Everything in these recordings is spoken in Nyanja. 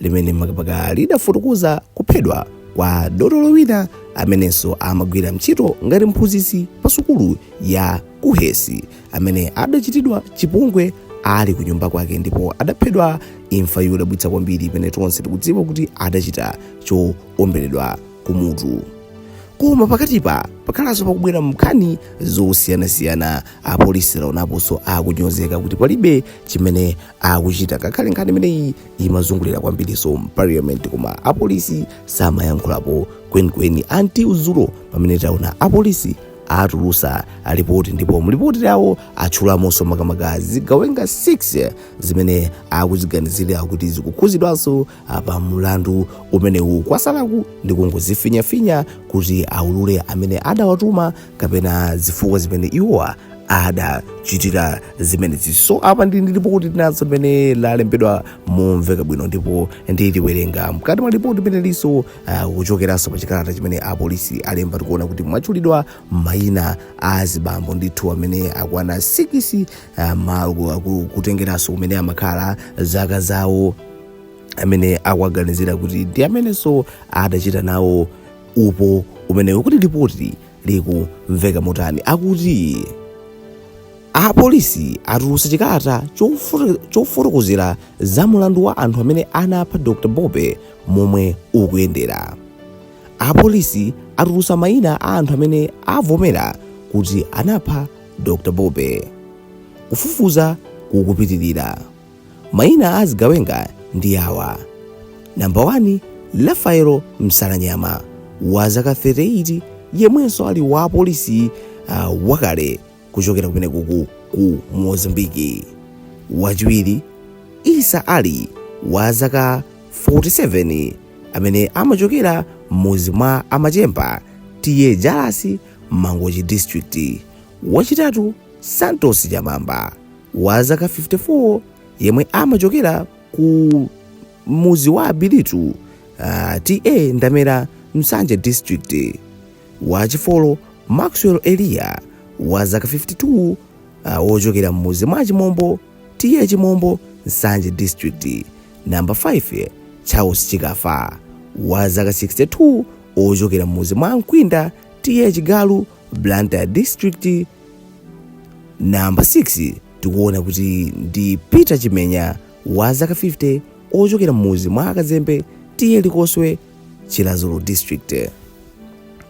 limene makamaka lidafotokoza kuphedwa kwa dotolo wina amenenso amagwira ntchito ngati mphunzitsi pa sukulu ya KUHeS amene adachitidwa chipongwe ali ku nyumba kwake ndipo adaphedwa imfa yodabwitsa kwambiri imene tonse tikudziwa kuti adachita choomberedwa kumutu koma pakatipa pakhalanso pakubwera nkhani zosiyanasiyana apolisi tawaonaponso akunyozeka kuti palibe chimene akuchita ngakhale nkhani imeneyi imazungulira kwambirinso mparliament koma apolisi samayankhulapo kwenikweni until dzulo pamene taona apolisi atulutsa lipoti ndipo mlipoti lawo atchulamonso makamaka zigawenga 6 zimene akuziganizira kuti zikukhuzidwanso pa mulandu umenewu kwatsalaku ndi kungozifinyafinya kuti aulule amene adawatuma kapena zifukwa zimene iwowa adachitira zimenezi so apa ndi ndi lipoti tinazo limene lalembedwa momveka bwino ndipo ndiliwerenga mkati mwa lipoti limenelinso uh, kuchokeranso pa chikalata chimene apolisi alemba tikuona kuti mwatchulidwa mayina a zibambo ndithu amene akwana 6 ah, ma- ku- ku- kutengeranso kumene amakhala zaka zawo amene akuwaganizira kuti ndi amenenso adachita nawo upo umenewu kuti lipoti likumveka motani akuti apolisi atulutsa chikalata chofo- chofotokozera za mulandu wa anthu amene anapha dr bobe momwe ukuyendera apolisi atulutsa mayina a anthu amene avomera kuti anapha Dr. Bobe. Kufufuza kukupitirira. Maina a azigawenga ndi awa. Namba 1 Rafaelo Msalanyama wa zaka 38 yemwenso ali wapolisi uh, wakale kuchokera kumene kuku ku Mozambiki. Wachiwiri Isa Ali wa zaka 47 amene amachokera m'mudzi mwa amachemba TA Jalasi Mangochi District. Wachitatu Santos Chamamba wa zaka 54 yemwe amachokera ku muzi wa Abilitu uh, TA Ndamera Nsanje District. Wachifolo Maxwell Elia wa zaka 52 uh, wochokera mmuzi mwa Chimombo TA Chimombo Nsanje District. Namba 5 Charles Chikafa wa zaka 62 ochokera m'mudzi mwa a Nkwinda TA Chigalu Blantyre District namba 6 tikuona kuti ndi Peter Chimenya wa zaka 50 ochokera m'mudzi mwa a Kazembe TA Likoswe Chiradzulu District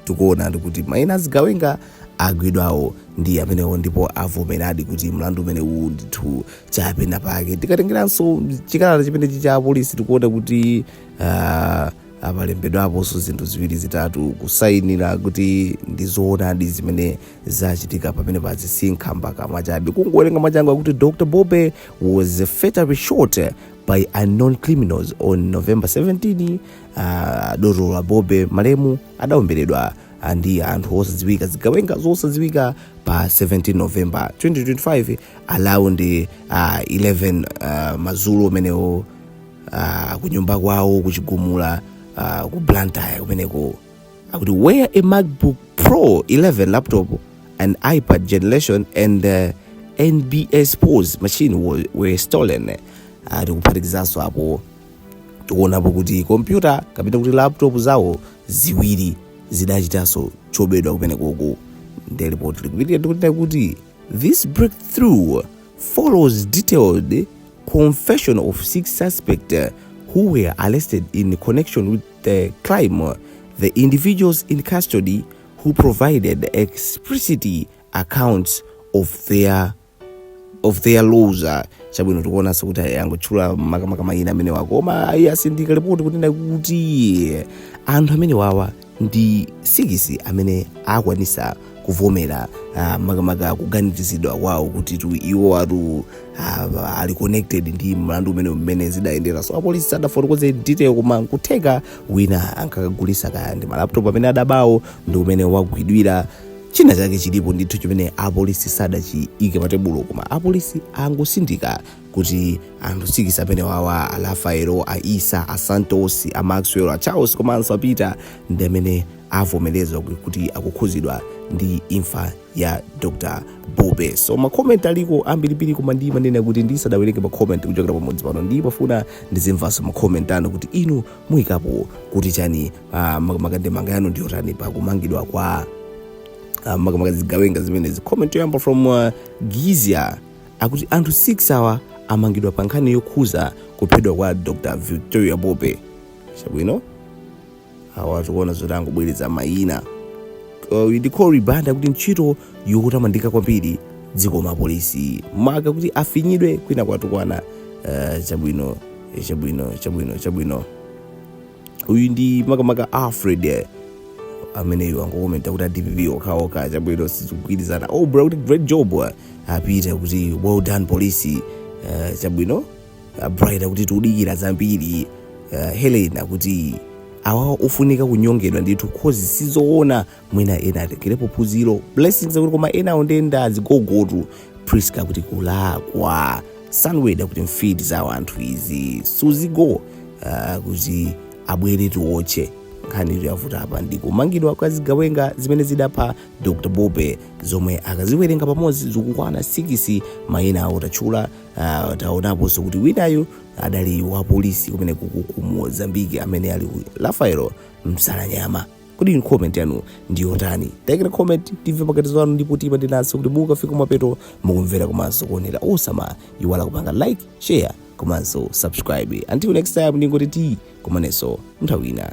tikuonadi kuti maina a zigawenga agwidwawo ndi amenewo ndipo avomeradi kuti mlandu umene uwu ndithu chapena pake tikatengeranso chikalata chimenechi cha apolisi tikuona kuti ah, Apa alembedwaponso zinthu ziwiri zitatu kusayinira kuti ndi zoonadi zimene zachitika pamenepazi si nkhambakamwa chabe. Kungowerenga mwachangu akuti Dr. Bobe was fatally shot by unknown criminals on November 17. Uh, dotolo a Bobe malemu adaomberedwa ah, ndi anthu osadziwika zigawenga zosadziwika pa 17 november 2025 around uh, 11 uh, madzulo amenewo ah, ku nyumba kwawo ku chigumula ah, ku blantyre kumeneko akuti where a macbook pro 11 laptop an ipad generation and uh, nbs pos machine were, were stolen ah, tikuphatikizaso apo tikuonapo kuti kompyuta kapena kuti laptop zawo ziwiri zidachitanso chobedwa kumeneku ndi report likupitirira ndi kunena kuti this breakthrough follows detailed confession of six suspects uh, who were arrested in connection with the crime, uh, the individuals in custody who provided explicit accounts of their of their roles uh, chabwino tikuonanso kuti angotchula makamaka mayina amenewa koma eeh asindika lipoti kutanthauza kuti anthu amenewawa ndi sikisi amene akwanisa kuvomera ah, makamaka kuganizizidwa kwawo kuti iwowatu ah, ali connected ndi mlandu umene mmene zidayendera so apolisi sadafotokoze detail koma nkutheka wina ankakagulisa kaya ndi malaptop amene adabawo ndi mmene wagwidwira china chake chilipo ndithu chimene apolisi sadachiike patebulo koma apolisi angosindika kuti anthu sikisi amenewawa a rafaelo a isa a santos a maxwell a charles komanso a peter ndi amene avomereza ku- kuti akukhudzidwa ndi imfa ya dr bobe so makomenti aliko ambirimbiri koma ndimanena kuti ndisadawerenge makomenti kuchokera pamudzi pano ndimafuna ndizimvanso makomenti anu kuti inu muyikapo kuti chani ah, mak- makandemanga yanu ndiyotani pa kumangidwa kwa ah, makamaka zigawenga zimenezi comment yoyamba from uh, gizia akuti anthu 6 awa amangidwa pa nkhani yokhudza kuphedwa kwa dr victoria bobe chabwino awa tikuona zoti angobwereza mayina uh, ndi Cory Banda akuti ntchito yotamandika kwambiri zikomo apolisi mwakakuti afinyidwe kwina kwatukwana uh, chabwino chabwino chabwino chabwino uyu ndi makamaka alfred eh, ameneyo wangokomenta kuti adpp okhaokha chabwino sizikugwirizana oh bro akuti great job eh, apita akuti well done police eh, chabwino Ah, bright akuti tiudikira zambiri eh, helen akuti awawa ofunika kunyongedwa ndithu coz sizoona mwina ena atengerepo phunziro blessings akuti koma inuyo ndiye ndazigogotu priska akuti kulakwa sanweda akuti mfiti za anthu izi suzgo uh, akuti abwere tiwotche nkhani yatipeza apa ndi kumangidwa kwa zigawenga zimene zidapha dr bobe zomwe tikaziwerenga pamodzi zikukwana sikisi mayina awo tatchula uh, taonaponso kuti winayu adali wa polisi kumene kuku ku mozambiki amene ali ku rafaelo msalanyama kodi inu comment yanu ndi yotani taikani comment timve maganizo anu ndipo timanyadiranso kuti mwakafika mapeto mwa kumvera komanso kuonera osamaiwala kupanga like share komanso subscribe until next time ndingoti tikumanenso nthawi ina